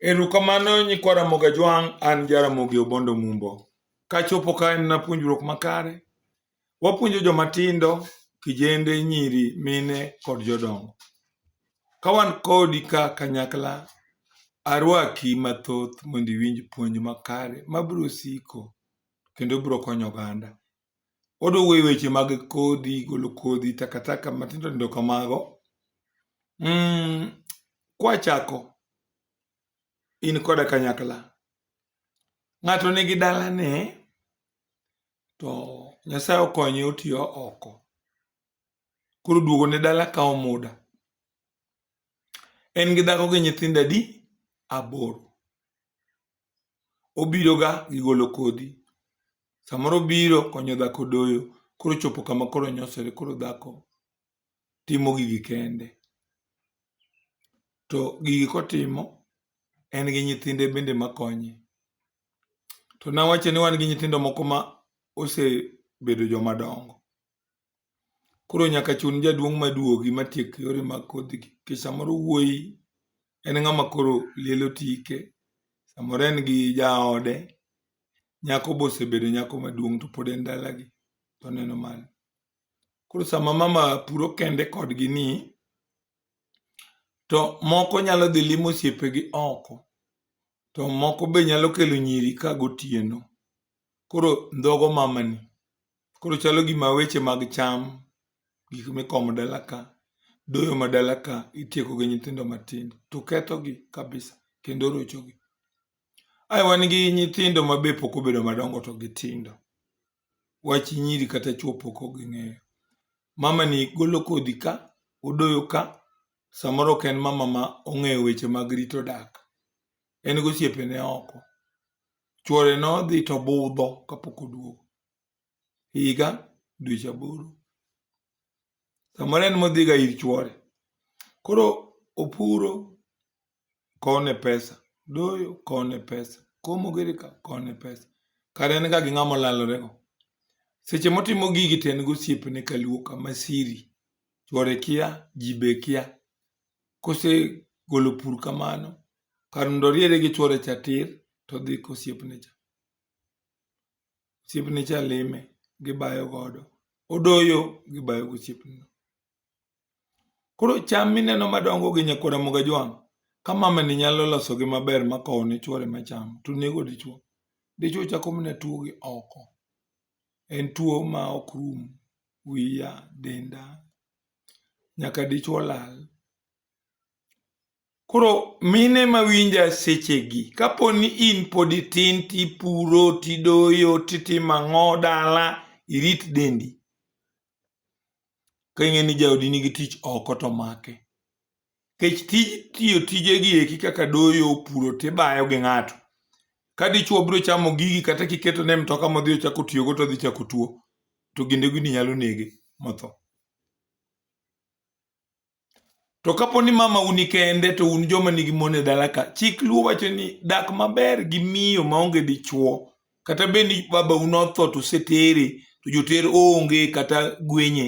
Erokamano nyikwa Ramogi Ajwang', an Jaramogi Obondo Mumbo. Kachopo ka en na puonjruok makare. Wapuonjo joma tindo, kijende, nyiri, mine kod jodongo. Ka wan kodi ka kanyakla, arwaki mathoth mondo iwinj puonj makare mabiro siko kendo biro konyo oganda. oduogo e weche mag kodhi, golo kodhi, takataka matindo tindo kamago. Mm, kwachako in koda kanyakla, ng'ato nigi dalane to Nyasaye okonye otiyo oko, koro duogo ne dala kawo muda. En gi dhako gi nyithindo adi? Aboro. obiroga gi golo kodhi. Samoro obiro konyo dhako doyo, koro ochopo kama koro onyosore koro dhako timo gigi kende. To gigi kotimo, en gi nyithinde bende makonye. To nawacho ni wan gi nyithindo moko ma osebedo joma dongo. Koro nyaka chun jaduong' maduogi matiek yore mag kodhigi. Nikech samoro wuoyi en ng'ama koro liel otike, samoro en gi jaode, nyako be osebedo nyako maduong' to pod en dalagi to oneno malo. Koro sama mama puro kende kodgi ni, to moko nyalo dhi limo osiepegi oko, to moko be nyalo kelo nyiri ka gotieno. Koro ndhogo mamani, Koro chalo gima weche mag cham, gik mikomo dala ka, doyo ma dala ka itieko gi nyithindo matindo to kethogi kabisa kendo rochogi. Ae wan gi nyithindo ma be pok obedo madongo to gitindo. Wach nyiri kata chwo pok ging'eyo. Mama ni golo kodhi ka, odoyo ka, samoro ok en mama ma ong'eyo weche mag rito dak. En gosiepene oko. Chwore nodhi to budho kapok oduogo. higa dweche aboro samoro en modhiga ir chwore koro opuro kone pesa doyo kone pesa komo giri ka kone pesa kare en ga gi ng'ama olalorego seche motimo gigi to en gosiepne kaluo kama siri chwore kia ji be kia kosegolo pur kamano kar mondo oriere gi chwore cha tir todhi kosiepne cha osiepne cha lime gibayo godo odoyo gibayo go osiepneno koro cham mineno madongo gi nyakwara moga jwang' ka mamani nyalo losogi maber ma kowo ne chwore macham to nego dichwo dichwo chako mana tuo gi oko en tuo ma ok rum wiya denda nyaka dichwo lal Koro mine mawinja sechegi, kapo ni in pod itin tipuro, tidoyo, titimo ang'o dala, irit dendi. Ka ing'e ni jaodi nigi tich oko to make. Kech tij tiyo tije gi eki kaka doyo, puro tibayo gi ng'ato. Ka dichwo biro chamo gigi kata kiketo ne mtoka modhi ochako tiyogo to odhi chako tuo. To ginde gini nyalo nege motho. To kapo ni mama uni kende to un joma nigi mon e dala ka, chik luo wacho ni dak maber gi miyo maonge dichuo, kata bed ni baba un otho to usetere, to joter onge kata gwenye,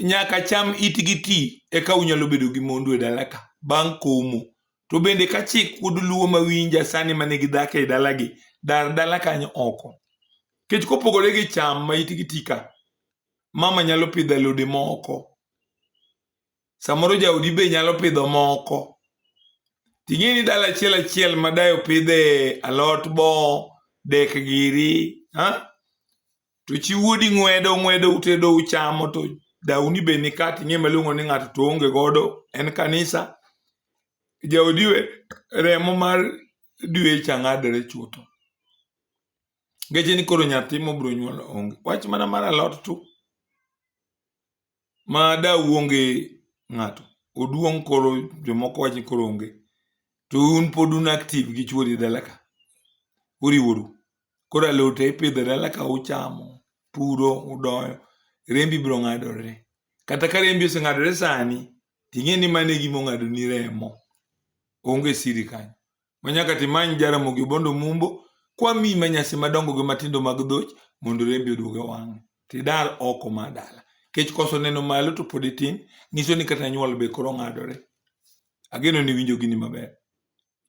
nyaka cham itgi ti eka unyalo bedo gi mondu e dala ka bang' komo. To bende ka chik pod luo mawinja sani mane gidhako e dalagi, dar dala kanyo oko. Kech kopogore gi cham ma itgi ti ka, mama nyalo pidho alode moko samoro jaodi be nyalo pidho moko ting'e ni dala achiel achiel ma dayo pidhe alot bo dek giri ha to chi wuodi ng'wedo ng'wedo utedo uchamo to dauni be ni ka ting'e maluongo ni ng'ato to onge godo en kanisa jaodi remo mar dwe chang'adore chutho ngeche ni koro nyathi mobiro nyuol onge wach mana mar alot tu ma da uonge ng'ato oduong' koro jomoko wach ni koro onge to un pod un active gi chuori dala ka uriworu koro alote ipidho dala ka uchamo puro udoyo rembi biro ng'adore kata ka rembi oseng'adore sani ting'e ni mane gima ong'adoni remo onge siri kanyo Manyaka timany Jaramogi Obondo Mumbo kwami ma nyasi madongo gi matindo mag dhoch mondo rembi oduog e wang'e. Tidar oko ma dala. Kech koso neno malo to pod itin, nyiso ni kata nyuol be koro ng'adore. Ageno ni winjo gini maber.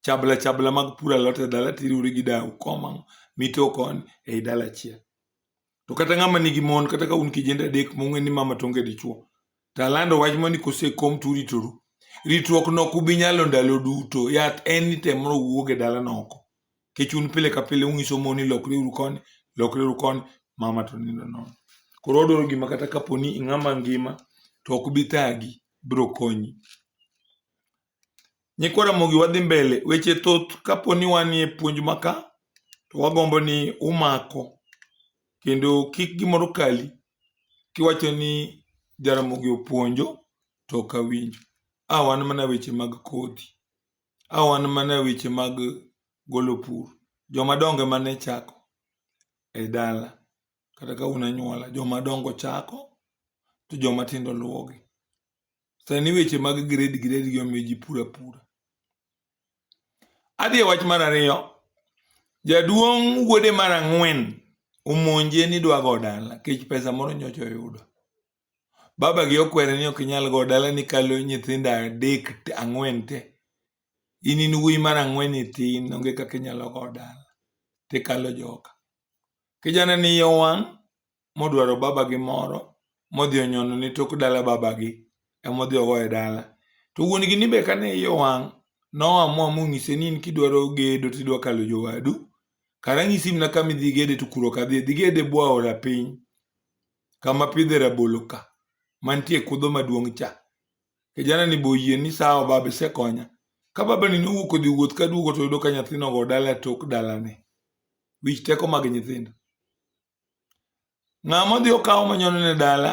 Chabla chabla mag puro alot e dala tiriwri gi dau komang' mito koni ei dala achiel. to kata ng'ama nigi mon kata ka un kijende adek mong'e ni mama tonge dichuo to alando wach mani kosekom to uritoru ritruok no ok ubi nyalo ndalo duto yath en ni temro wuog e dalano oko kech un pile ka pile ung'iso mon ni lokre uru koni lokre uru koni mama to nindo nono koro odwaro gima kata kapo ni ing'ama ngima to ok bi thagi biro konyi Nyikwa Ramogi wadhi mbele, weche thoth kapo ni wanie puonj maka to wagombo ni umako kendo kik gimoro kali kiwacho ni Jaramogi opuonjo to ok awinjo. A wan mana weche mag kodhi, a wan mana weche mag golo pur. Joma dongo ema ne chako e dala kata ka un anyuola, joma dongo chako to joma tindo luwogi. Sani weche mag grade grade gi omiyo ji pura pura. Adhi e wach mar ariyo, jaduong' wuode mar ang'wen omonje ni dwa go dala kech pesa moro nyocha oyudo. Baba gi okwere ni ok inyal go dala ni kalo nyithindo adek te- ang'wen te. In in wuoyi mar ang'wen ni tin onge kaka inyalo go dala. Tikalo joka. Kijana ni iye owang' modwaro babagi moro modhi onyono ne tok dala babagi emodhi ogo e dala. To wuon gini be kane iye owang' noamua monyise ni in kidwaro gedo tidwa kalo jowadu, kara anyisi mana kama idhi gede to kuro ok adhi, idhi gede e bwo aora piny kama pidhe rabolo ka mantie kudho maduong' cha. Kijana ni be oyie ni sawa baba isekonya. Ka babani nowuok odhi wuoth kaduogo toyudo ka nyathino ogo dala e tok dalane. Wich teko mag nyithindo. Ng'ama odhi okawo manyono ne dala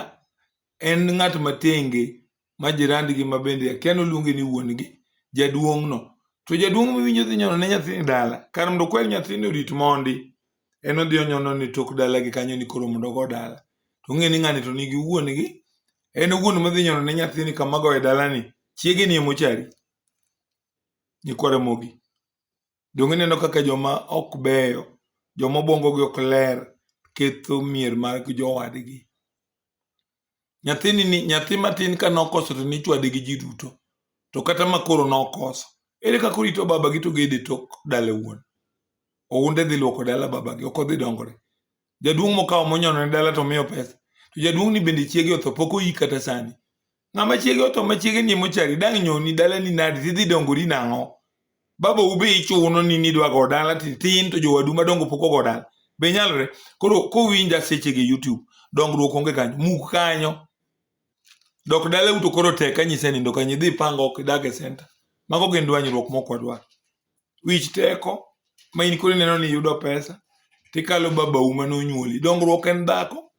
en ng'at matenge ma jirandgi ma bende akia noluonge ni wuon-gi, jaduong'no. To jaduong' miwinjo dhi nyono ne nyathini dala, kar mondo okwer nyathini orit mondi, en odhi onyono ni tok dalagi kanyo ni koro mondo ogo dala. To ong'e ni ng'ani to nigi wuon-gi, en wuon madhi nyono ne nyathini kama goye dalani, chiege ni emochari, nyikwa Ramogi. Donge ineno kaka joma ok beyo, joma obwongogi ok ler, ketho mier mag jowadgi? Nyathini ni nyathi matin ka nokoso to nichwade gi ji duto, to kata ma koro nokoso, ere kaka orito babagi to gede tok dala wuon? Ounde dhi lwoko dala babagi, ok odhi dongore. Jaduong' mokawo monyono ne dala to miyo pesa. To jaduong' ni bende chiege otho pok oyik kata sani. Ng'ama chiege otho ma chiege ni mochari dang' nyoni dalani nadi tidhi dongori nang'o? Baba ube ichuno ni nidwa go dala tin to jowadu madongo pok ogo dala. Be nyalore? Koro kowinja seche gi YouTube dongruok onge kanyo. Muk kanyo. Dok dala uto koro tek anyise nindo kanyo idhi pang ok idag e center. Mago gin dwanyruok mok wadwar. wich teko ma in koro ineno ni yudo pesa tikalo babau ma nonyuoli dongruok en dhako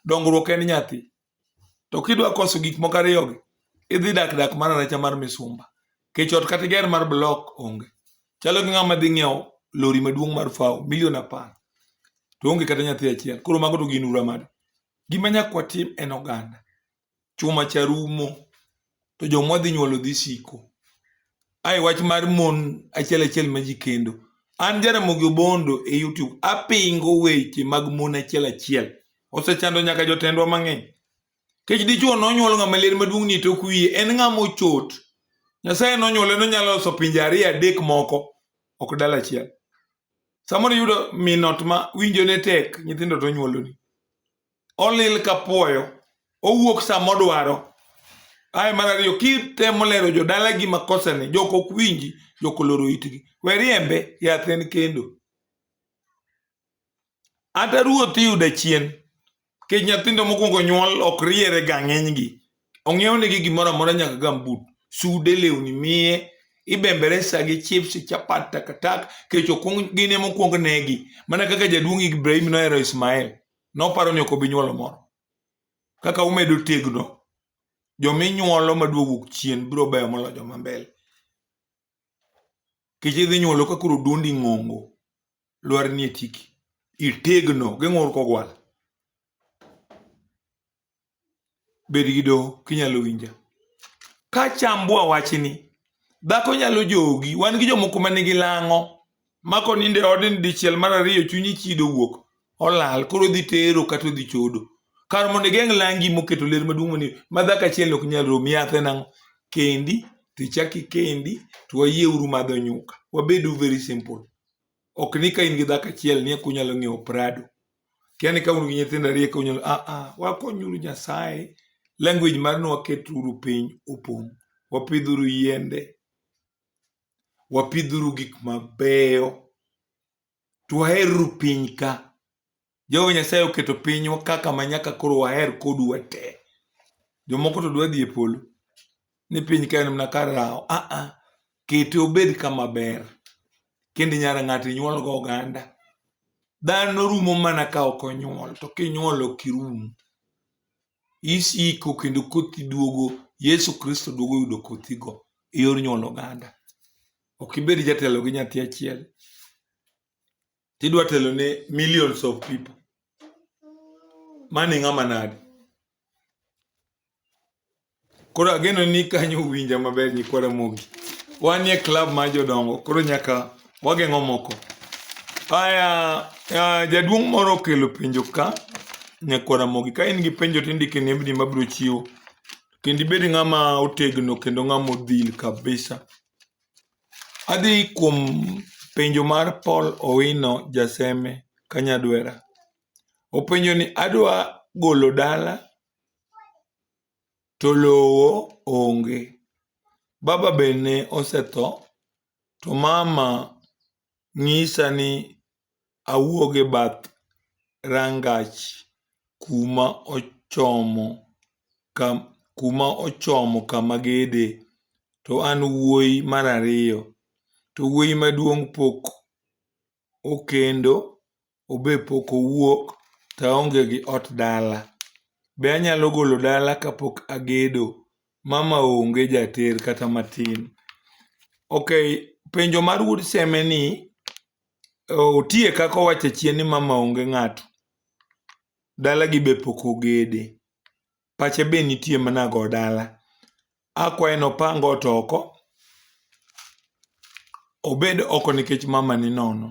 dongruok en nyathi to kidwa koso gik moko ariyogi idhi dak dak mar aracha mar misumba kech ot kata iger mar blok onge chalo gi ng'ama dhi ng'iewo lori maduong' mar fawo milion apar to onge kata nyathi achiel koro mago to gin ura made gima nyaka watim en oganda chuma cha rumo to joma wadhi nyuolo dhi siko. Ae wach mar mon achiel achiel ma ji kendo. An Jaramogi Obondo e YouTube apingo weche mag mon achiel achiel. Osechando nyaka jotendwa mang'eny. Kech dichuo nonyuol ng'ama ler maduong' ni tok wiye en ng'ama ochot. Nyasaye nonyuole nonyalo loso pinje ariyo adek moko ok dala achiel. Samoro yudo minot ma winjo ne tek nyithindo to onyuoloni. olil ka puoyo owuok sama odwaro ae mar ariyo kitemo lero jodalagi makosane jok ok winji jok oloro itgi we riembe yath en kendo ata ruoth iyudo achien kech nyathindo mokwongo nyuol ok riere ga ng'enygi ong'iew negi gimoro amora nyaka gambut sude lewni miye ibembere sa gi chips chapat takatak kech okwong gine mokwong negi mana kaka jaduong' ibrahim nohero ismael noparo ni ok obi nyuolo moro. Kaka umedo tegno, jominyuolo maduog wuok chien biro beyo molo joma mbele. Kech idhi nyuolo ka koro duondi ng'ongo, lwar nie tiki. Itegno, geng'ur kogwal. bed gi doho kinyalo winja ka chambua wachni dhako nyalo jogi wan gi jomoko ma nigi lang'o ma konindo e odni dichiel mar ariyo chunyi chido wuok olal koro odhi tero kata odhi chodo kar mondo igeng' langi moketo ler maduong' mani ma dhako achiel ok nyal romi yathe nang'o kendi tichaki kendi to wayieuru madho nyuka wabedu very simple ok ni ka in gi dhako achiel ni eka unyalo ng'iewo prado kia ni ka un gi nyithindo ariyo eka unyalo ah ah wakonyuru nyasaye language mar ni waketuru piny opong' wapidhuru yiende wapidhuru gik mabeyo to waherru piny ka Jehova Nyasaye oketo pinywa kaka ma nyaka koro waher kodu wate. Jomoko to dwa dhi e polo ni piny ka en mana kar rawo. Ah ah, kete obed kama ber. Kendo nyara ng'ato inyuol go oganda. Dhano rumo mana ka ok onyuol, to kinyuol ok irum. Isiko kendo kothi duogo, Yesu Kristo duogo yudo kothigo e yor nyuol oganda. Ok ibed jatelo gi nyathi achiel. tidwa telo ne millions of people mani ng'ama nadi koro ageno ni kanyo uwinja maber nyikwa Ramogi wan e club mar jodongo koro nyaka wageng'o moko aya uh, jaduong' moro okelo penjo ka nyakwa Ramogi ka in gi penjo tindike nembni mabiro chiwo kendo ibed ng'ama otegno kendo ng'ama odhil kabisa Adhi kuom penjo mar Paul Owino Jaseme Kanyadwera. Openjo ni adwa golo dala to lowo onge. Baba be ne osetho to mama nyisa ni awuog e bath rangach kuma ochomo ka kuma ochomo kama gede to an wuoyi mar ariyo to wuoyi maduong' pok okendo obe pok owuok to aonge gi ot dala. Be anyalo golo dala kapok agedo? Mama onge jater kata matin. Ok, penjo mar wuod seme ni Otie kaka owacho achien ni mama onge ng'ato, dalagi be pok ogede, pache be nitie mana go dala. Akwaye ni opang ot oko, obed oko nikech mama ni nono.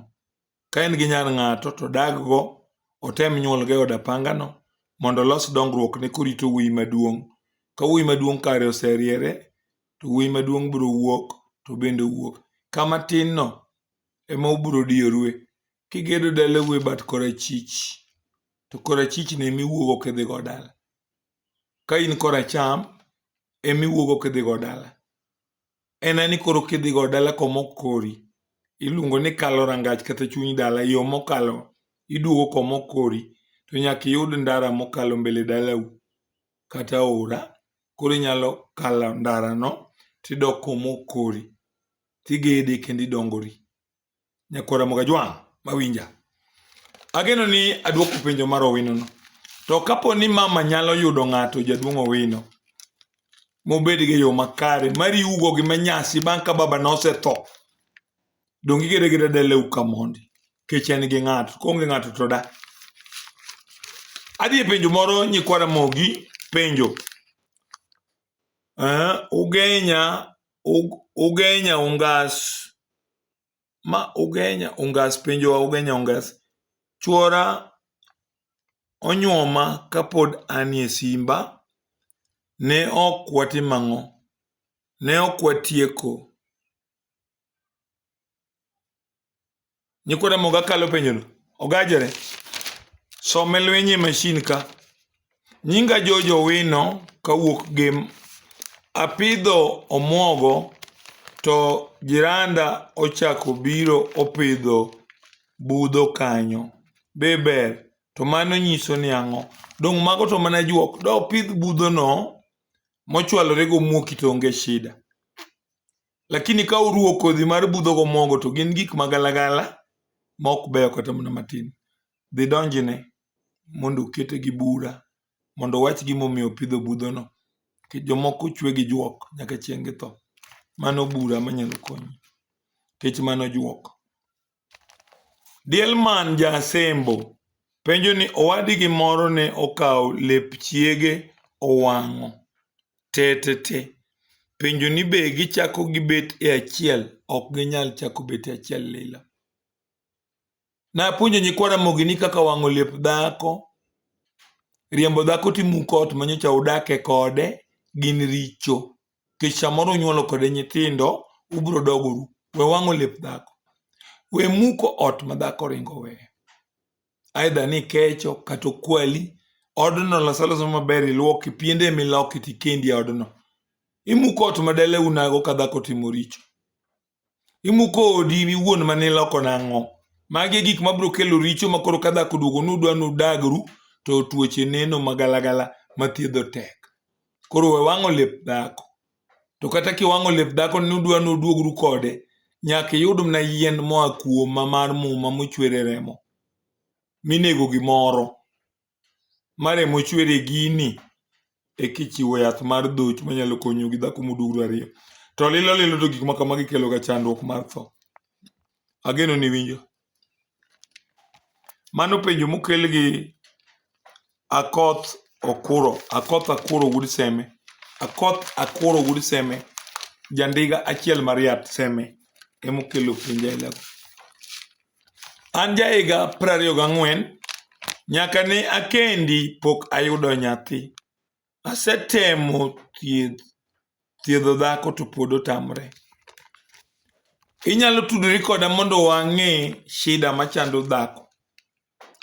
Ka en gi nyar ng'ato to odag go, otem nyuol go e od apanga no mondo olos dongruok ne korito wuoyi maduong'. Ka wuoyi maduong' kare oseriere, to wuoyi maduong' biro wuok to obende owuog. Ka matin no, ema ubiro diyorue. Kigedo dalau e bat korachich, to korachichno ema iwuogo kidhigo dala. Ka in koracham, ema iwuogo kidhigo dala. En ani koro kidhigo dala komok kori, iluongo ni kalo rangach kata chuny dala, yo mokalo iduogo komok kori, to nyaka iyud ndara mokalo mbele dalau kata aora, koro inyalo kalo ndarano tidok komok kori. tigede kendo idongori. Nyakwa Ramogi Ajwang' mawinja. Ageno ni adwoko penjo mar Owinono. To kapo ni mama nyalo yudo ng'ato jaduong' Owino mobed gi yo makare mariwugo gi manyasi bang' ka baba nosetho donge igere gi dadelew ka mondi kech en gi ng'ato koonge ng'ato to da adhi e penjo moro nyikwa Ramogi penjo eh, ugenya Ugenya Ungas, ma Ugenya Ungas penjowa Ugenya Ungas, chuora onyuoma kapod anie simba, ne ok watimo ang'o, ne ok watieko. Nyikwa Ramogi akalo penjono. Ogajore. Some lwenye mashin ka. Nyinga Jojo Wino kawuok gem. Apidho omwogo to jiranda ochako biro opidho budho kanyo. Be ber? To mano nyiso ni ang'o? Dong' mago to mana juok. Da opidh budhono mochwalore gomwoki to onge shida. Lakini ka uruwo kodhi mar budho gomogo to gin gik magalagala ma ok beyo kata mana matin. Dhi donjne mondo okete gi bura mondo owach gimomiyo opidho budhono. Jomoko ochwe gi juok nyaka chieng' githo. Mano bura manyalo konyi. Kech mano juok. Diel man ja asembo penjo ni owadgi moro ne okawo lep chiege owang'o tetete. Penjo ni be gichako gibet e achiel, ok ginyal chako bet e achiel lila. Napuonjo nyikwa Ramogi ni kaka wang'o lep dhako, riembo dhako timuko ot manyocha udake kode gin richo. kech samoro unyuolo kode nyithindo ubiro dogoru we wang'o lep dhako we muko ot ma dhako ringo we aidha ni kecho kata okwali odno lasaloso maber ilwoki piende miloki tikendi e odno imuko ot ma dele unago ka dhako timo richo imuko odi in iwuon ma niloko nang'o magi e gik mabiro kelo richo ma koro ka dhako duogo nudwa nudagru to tuoche neno magalagala mathiedho tek koro we wang'o lep dhako to kata kiwang'o lep dhako nudwa nuduogru kode nyaka iyud mna yien moa kuoma mar muma mochwere remo minego gimoro maremo chwer e gini eka ichiwo yath mar dhocho manyalo konyo gi dhako modugro ariyo to lilo lilo to gik ma kamagi kelo ga chandruok mar tho ageno ni winjo mano penjo mokel gi akoth okuro akoth akuro wuod seme akoth akuro wuod seme jandiga achiel mariat seme emokelo penjo aila go An jahiga prariyo gang'wen, nyaka ne akendi pok ayudo nyathi. Asetemo thieth, thiedho dhako to pod otamre. Inyalo tudori koda mondo wang'e shida machando dhako.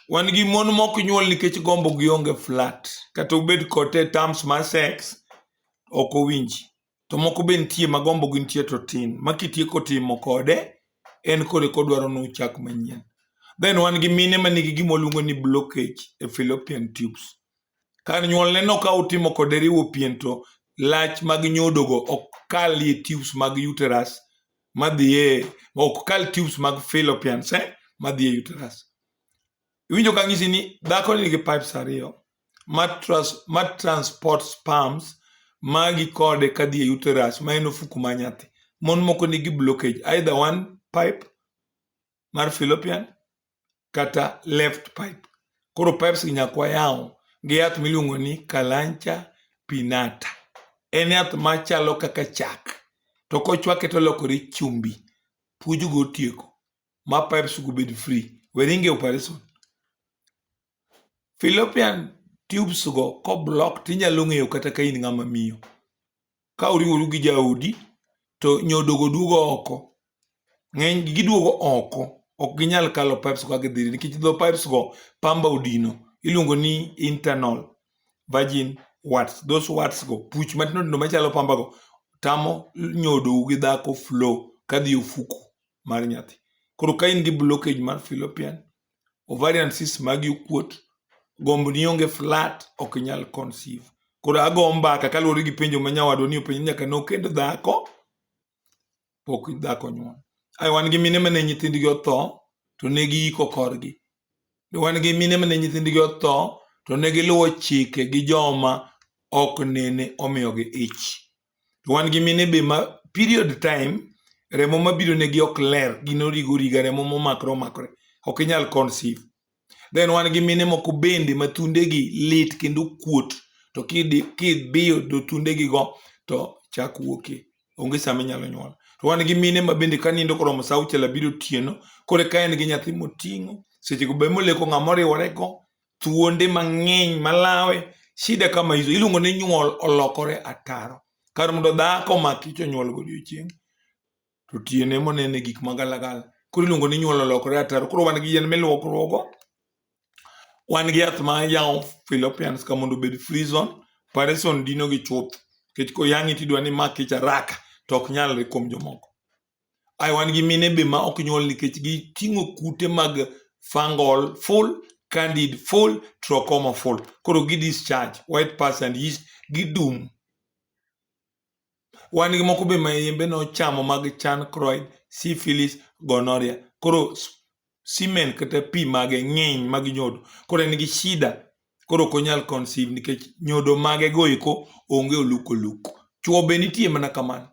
Wan gi mon mok nyuol nikech gombo gi onge flat. Kata ubed kod te terms mar sex, ok owinji. to moko be nitie ma gombo gi nitie to tin ma kitieko timo kode en kore kodwaro ni uchak manyien then wan gi mine ma nigi gima waluongo ni blockage e fallopian tubes kar nyuolne no ka utimo kode riwo pien to lach mag nyodogo ok kal e tubes mag uterus madhiye ok kal tubes mag fallopians eh, madhiye uterus Iwinjo ka ng'isi ni dhako ni nigi pipes ariyo ma, trans, ma transport sperms magi kode kadhi e uterus ma en ofuku ma nyathi. Mon moko nigi blockage either one pipe mar fallopian kata left pipe. Koro pipes gi nyakwa yawo gi yath miluongo ni kalancha pinata. En yath machalo kaka chak to kochwake to lokore chumbi. Puojogo otieko. ma pipes go bed free weringe operation Philippian tubes go ko block tinyalo ng'eyo kata ka in ng'ama miyo ka uriworu gi jaodi to nyodogo duogo oko ng'eny giduogo oko ok ginyal kalo pipes go gidhi nikech dho pipes go pamba odino iluongo ni internal virgin warts those warts go puch matindo tindo machalo pamba go tamo nyodogo gi dhako flow kadhi ofuku mar nyathi. Koro ka in gi blockage mar fallopian, ovarian cyst magi okuot, gombo ni onge flat, ok inyal conceive. Koro ago mbaka kaluwore gi penjo ma nyawadwa ni openjo nyaka nokend dhako pok dhako nyuol. Ai wan gi mine mane nyithindgi otho to ne giiko korgi. Wan gi mine mane nyithindgi otho to ne giluwo chike gi joma ok nene omiyogi ich. to wan gi mine be ma period time remo mabiro negi ok ler gin origo origa remo momakre omakre ok inyal conceive then wan gi mine moko bende ma thundegi lit kendo kuot to kidi- kibiyo do thundegigo to chak wuokie onge sama inyalo nyuol to wan gi mine ma bende ka nindo koromo sa auchiel abiro otieno kore ka en gi nyathi moting'o sechego be moleko ng'ama oriworego thuonde mang'eny malawe shida kama hizo iluongo ni nyuol olokore ataro kar mondo dhako maki to nyuol godiochieng' to tiene monene gik magalagala koro iluongo ni nyuol olokore ataro koro wan gi yien miluokruogo wan gi yath ma yawo Philippians ka mondo obed free zone parison dino gi chuth nikech koyang'i tidwa ni mak ich araka to ok nyalre kuom jomoko Ai wan gi mine be ma ok nyuol nikech giting'o kute mag fungal full, candid full, trachoma full. Koro gi discharge, white pus and yeast gidum. Wan gi moko be ma yembe nochamo mag chancroid, syphilis, gonorrhea. Koro semen kata pi mage ng'eny mag nyodo koro en gi shida koro ok onyal conceive nikech nyodo mage go eko onge oluk oluk chuo be nitie mana kamano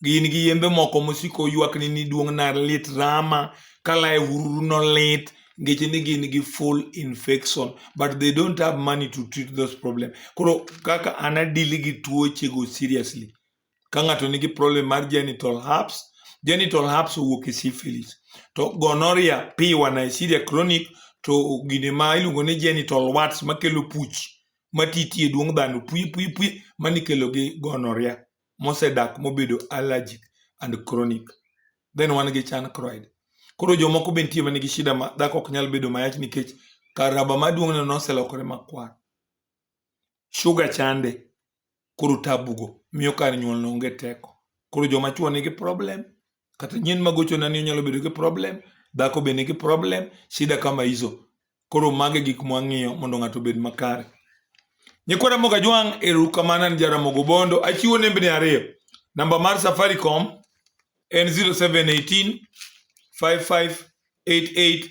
gin gi yembe moko mosiko ywakni ni duong' na lit rama kalae ururu no lit ngeche ni gin gi full infection but they don't have money to treat those problem koro kaka ana dili gi tuoche go seriously Ka ng'ato nigi problem mar genital herpes, genital herpes owuok e syphilis. To gonorrhea, piwa, Neisseria chronic to gine ma iluongo ni genital warts makelo puch matiti e duong' dhano pwi pwi pwi mani kelo gi gonorrhea mosedak mobedo allergic and chronic. Then wan gi chancroid. Koro jomoko be nitie manigi shida ma dhako ok nyal bedo mayach nikech kar raba maduong'ne noselokore makwar. shuga chande koro tabugo miyo kar nyuol no onge teko koro joma chuo nigi problem kata nyien magocho nani onyalo bedo gi problem dhako be nigi problem shida kama hizo koro mage gik mwang'iyo mondo ng'ato obed makare nyikwa ramoga jwang' erukamana ni jaramogo bondo achiwo nembni ariyo namba mar safaricom en 0718 5588